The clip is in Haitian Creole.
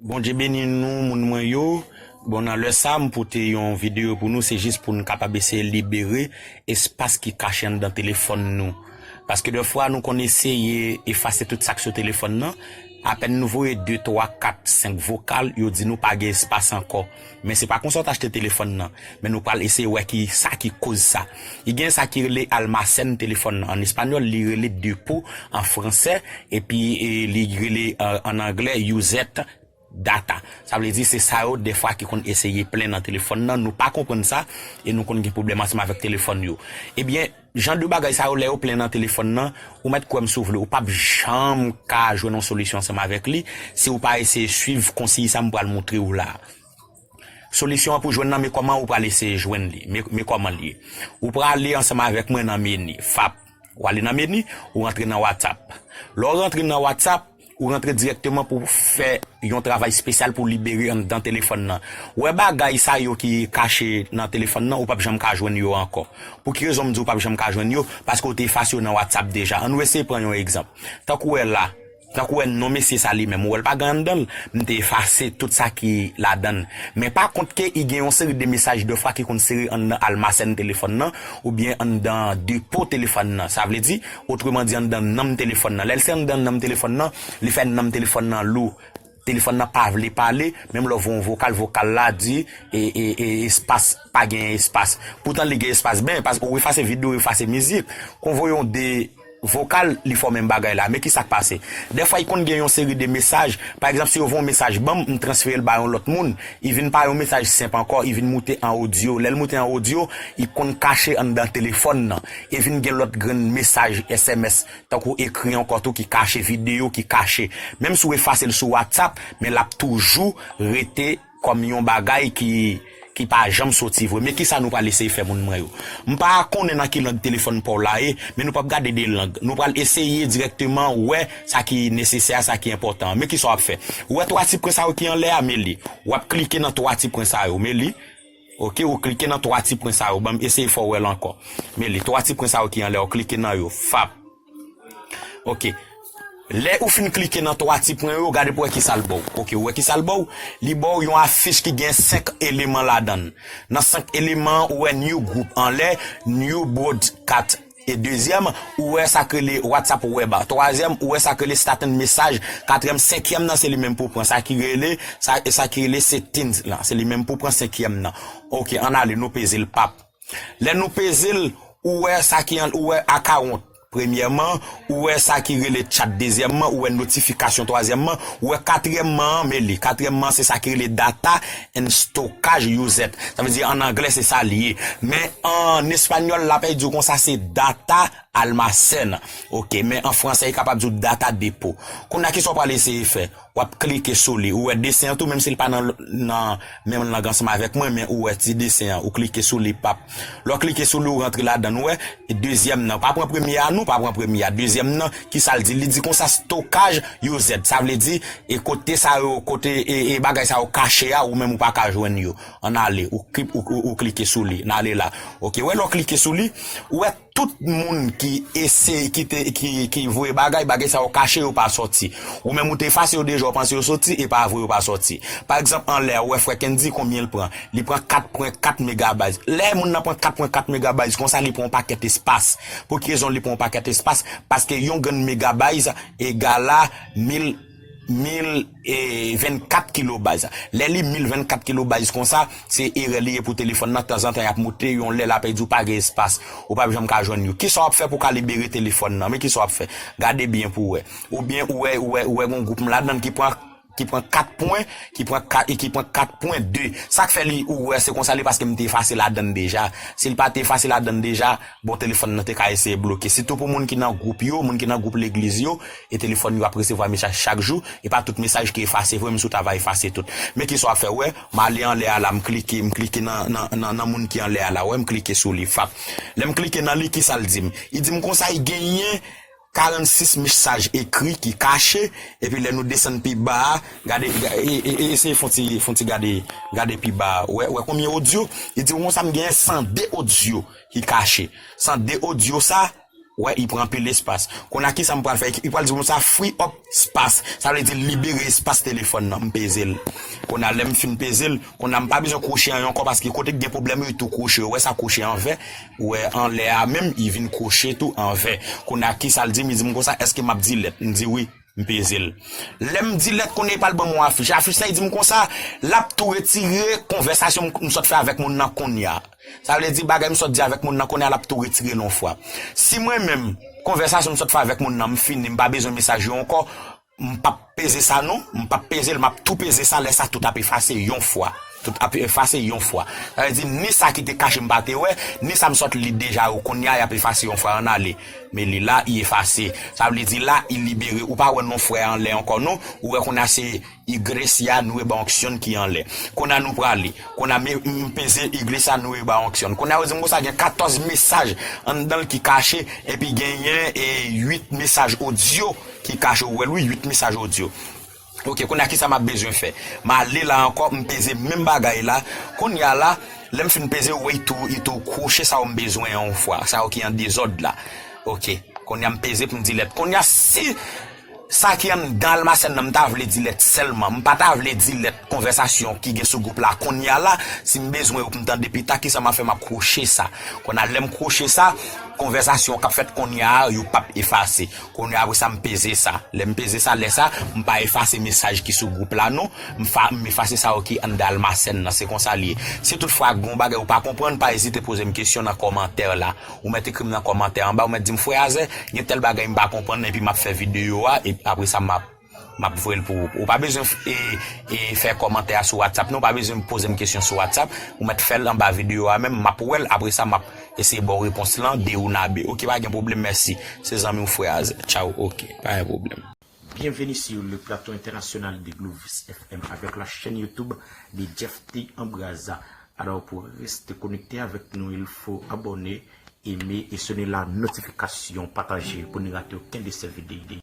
Bondye beni nou moun mwen yo, bon nan lè sa m pote yon video pou nou se jis pou n kapab eseye libere espas ki kache anndan telefòn nou paske dè fwa nou konn eseye efase tout sak sou telefòn nan apèn nou voye 2 3 4 5 vokal yo di nou pa gen espas ankò Men se pa konsa w t achte telefòn nan. Men nou pral eseye wè ki sa ki koz sa. I gen sa ki rele almacén telefòn nan. An espanyòl li rele depo an fransè epi li rele an anglè used data. Sa vle di se sa yo dèfwa ki konn eseye plen nan telefòn nan. Nou pa konprann sa e nou konn gen pwoblèm ansanm avèk telefòn yo. Ebyen. Jan de bagay sa yo lè yo plen nan telefòn nan, ou mèt kwè m si w vle, ou pap janm ka jwenn yon solisyon ansanm avèk li si ou pa eseye swiv konsiy sa m pral moutre ou la a. Solisyon an pou jwenn nan me kòman ou pral eseye jwenn li. Me me kòman l ye. Ou prale ansanm avèk mwen nan meni, fap. Ou ale nan meni, ou rantre nan WhatsApp. Lè w rantre nan WhatsApp. Ou rantre dirèkteman pou fè yon travay spesyal pou libere anndan telefòn nan. Wè bagay sa yo ki kache nan telefòn nan ou pap janm ka jwenn yo ankò. Pou ki rezon m di ou pap janm ka jwenn yo? Paske ou te efase yo nan WhatsApp deja. Annou eseye pran yon egzanp. Tankou wè la, tankou wè non mesye sa li menm, ou wè l pa gen anndan l? M te efase tout sa ki ladan l. Men pa kont ke i gen yon seri de mesaj dèfwa ki konn sere anndan almasen telefòn nan oubyen anndan depo telefòn nan. Sa vle di, Otreman di anndan nanm telefòn nan. Lè l se anndan nanm telefòn nan, li fè nanm telefòn nan lou. Telefòn nan pa vle pale, menm lè w voye yon vokal, vokal la di e, e, e, espas, pa genyen espas. Poutan li gen espas ben, paske ou efase vid ou efase mizik. Kon voye yon de vokal, li fè w menm bagay la. Men ki sa k pase. Dèfwa i konn gen yon seri de mesaj, pa egzanp si yo voye yon mesaj ban m, m transfere l ba yon lòt moun, i vin pa yon mesaj senp ankò, i vin moute an odyo. Lè l moute an odyo, i konn kache anndan telefòn nan. E vin gen lòt grenn mesaj sms tankou ekri ankò tou ki kache videyo ki kache. Menm si w efase l sou whatsapp men l ap toujou rete kòm yon bagay ki ki pa janm soti vre. Men kisa nou pral eseye fè moun mwen yo. M pa konnen nan ki lang telefòn pa w la ye men nou p ap gade de lang. Nou pral eseye dirèkteman wè sa ki nesesè a, sa ki enpòtan an. Men kisa w ap fè. Ou wè 3 ti pwen sa yo ki anlè a? Men li. W ap klike nan 3 ti pwen sa yo. Men li. Ok ou klike nan 3 ti pwen sa yo banm eseye fè w wè l ankò men li 3 ti pwen sa yo ki anlè ou klike nan yo fap ok lè ou fin klike nan 3 ti pwen yo gade pou wè kisa l ba w ok ou wè kisa l ba w li ba w yon afich ki gen 5 eleman ladan l nan 5 eleman an ou wè new group anlè new broadcat E dezyèm, ou wè sa k rele WhatsApp Web a. Twazyèm, ou wè sa k rele Staten Mesaj. Katriyèm, senkyèm nan se li menm pou pran sa ki rele, sa ki rele Settings la. Se li menm pou pran senkyèm nan. Ok, ann ale, nou peze l pap. Lè nou peze l, ou wè sa ki an, ou wè Account premyèman, ou wè sa ki rele Chat dezyèmman, ou wè Notification twazyèmman, ou wè katriyèmman an, men li. Katriyèmman an se sa ki rele Data. N stokaj you zèt. Sa vle di an anglè se sa li ye. Men an espanyòl la pè di w kon sa se data almacén. Ok. Men an fransè li kapab di w data depo. Kounya ki sa w pral eseye fè? W ap klike sou li. Ou wè desen an tou menm si li pa nan nan menm lang ansanm avèk mwen men ou wè ti desen an. Ou klike sou li pap. Lè w klike sou li w rantre ladan n wè dezyèm nan pa pran premye a non pa pran premye a dezyèm nan kisa l di li di konsa stokaj yo z sa vle di e kote sa yo kote e bagay sa yo kache a ou menm ou pa ka jwenn yo an ale ou ou klike sou li n ale la ok wè lè w klike sou li ou wè. Tout moun ki eseye ki te ki voye bagay, bagay sa yo kache yo pa sòti. Ou menm ou te efase yo deja ou panse yo soti e pa vre yo pa sòti. Pa egzanp anlè a ou wè frè Kendy konbyen l pran? Li pran 4 pwen 4 megabayt. Lè moun nan pran 4 pwen 4 megabayt konsa li pran yon pakèt espas. Pou ki rezon li pran yon pakèt espas? Paske yon grenn megabayt egala mil. 1024 kilobaz lè li 1024 kilobaz konsa se erè li ye pou telefòn nan tanzantan yap moute yon lè la pèdi ou pa gen espas ou pap janm ka jwenn yo kisa wap fè pou ka libere telefòn nan men kisa wap fè gade byen pou wè ou byen ou wè ou wè gon gwoup m ladann ki pran ki pran 4 pwen ki pran 4 e ki pran 4 pwen 2 sak fè li ou wè se konsa li paske m te efase ladann deja sil pa te efase ladann deja bon telefòn nan te ka eseye bloke sitou pou moun ki nan gwoup yo moun ki nan gwoup legliz yo. E telefòn yo ap resevwa mesaj chak jou, e pa tout mesaj ki efase vre, m sou ta va efase tout. Men kisa w ap fè, wè, m ale anlè a la, m klike, m klike nan, nan, nan moun ki anlè a la, wè, m klike sou li, fap. Lè m klike nan li, kisa l di m? Li di m konsa y genyen 46 mesaj ekri ki kache, epi lè nou desann pi ba a, gade, e, e, e, eseye fon ti, fon ti gade, gade pi ba a, wè, wè konbyen odyo? Li di w konsa m genyen 102 odyo ki kache. 102 odyo sa. Wè i pran anpil espas. Konnya kisa m pral fè ak. I pral di pou m sa free up spas. Sa vle di libere espas telefòn nan. M peze l. Konnya lè m fin peze l. Konnya m pa bezwen kwoche an ankò paske kote ki gen pwoblèm yo i tou kwoche. Ou wè sa kwoche an vè. Ou wè anlè a menm i vin kwoche tou an vè. Konnya kisa l di m. Li di m konsa èske m ap di lèt. M di wi. M peze l. Lè m di lèt konn e pa l ban m yon afich. Afich sa e di m konsa, l ap tou retire konvèsasyon m sot fè avèk moun nan kounye a. Sa vle di bagay m sot di avèk moun nan kounye a l ap tou retire l yon fwa. Si mwen menm, konvèsasyon m sot fè avèk moun nan m fini, m pa bezwen mesaj yo ankò, m p ap peze sa non. M p ap peze l, m ap tou peze sa, lè sa tout ap efase yon fwa. Tout ap efase yon fwa. Sa vle di ni sa ki te kache m pa te wè, ni sa m sot li deja yo kounye a y ap efase yon fwa. An n ale. Men li la, i efase. Sa vle di la, i libere. Ou pa wè non frè a anlè ankò non. Ou wè kounye a se Iglesia Nueva Uncion ki anlè. Kounye a nou prale. Kounye a me, m peze Iglesia Nueva Uncion. Kounye a yo di m konsa gen katòz mesaj anndan l ki kache, epi genyen e uit mesaj odyo ki kache. Ou wè l wi, uit mesaj odyo. Ok kounya kisa map bezwen fè m ale la ankò m peze menm bagay la kounya la lèm fin peze ou wè it tou it tou kwoche sa ou m bezwen an yon fwa sa yo ki an dezòd la ok kounya m peze pou m di lèt kounya si sa ki anndan almasèn nan m ta vle di lèt sèlman m pa ta vle di lèt konvèsasyon ki gen sou gwoup la kounya la si m bezwen yo pou m tande pita kisa map fè map kwoche sa kounya lèm kwoche sa konvèsasyon kap fèt kounya a yo pap efase. Kounye apre sa m peze sa. Lè m peze sa, lè sa, m pa efase mesaj ki sou gwoup la non. M fa, m efase sa yo ki anndan almasèn nan. Se konsa li ye. Si tout fwa gen yon bagay ou pa konprann, pa ezite poze m kesyon nan kòmantè la. Ou mèt ekri m nan kòmantè anba, ou mèt di m, Frè Azè, gen tèl bagay m pa konprann nan epi m ap fè videyo a, epi apre sa m ap. Map voyel pou ou. Ou pa bezwen fè kòmantè a sou WhatsApp non, ou pa bezwen pozem kesyon sou WhatsApp, ou mèt fèl anba video a menm, map wèl apresa map eseye baw repons lan de une a de ok pa gen pwoblèm mèsi, se zanmiw frè a tchaw ok pa gen pwoblèm. Bienvenue sur le plateau international de Glovis FM avec la chaîne YouTube de Jeff T Embraza. Alors pour rester connecté avec nous, il faut abonner. Eme e sone la notifikasyon pataje pou n rate oken de sè vide.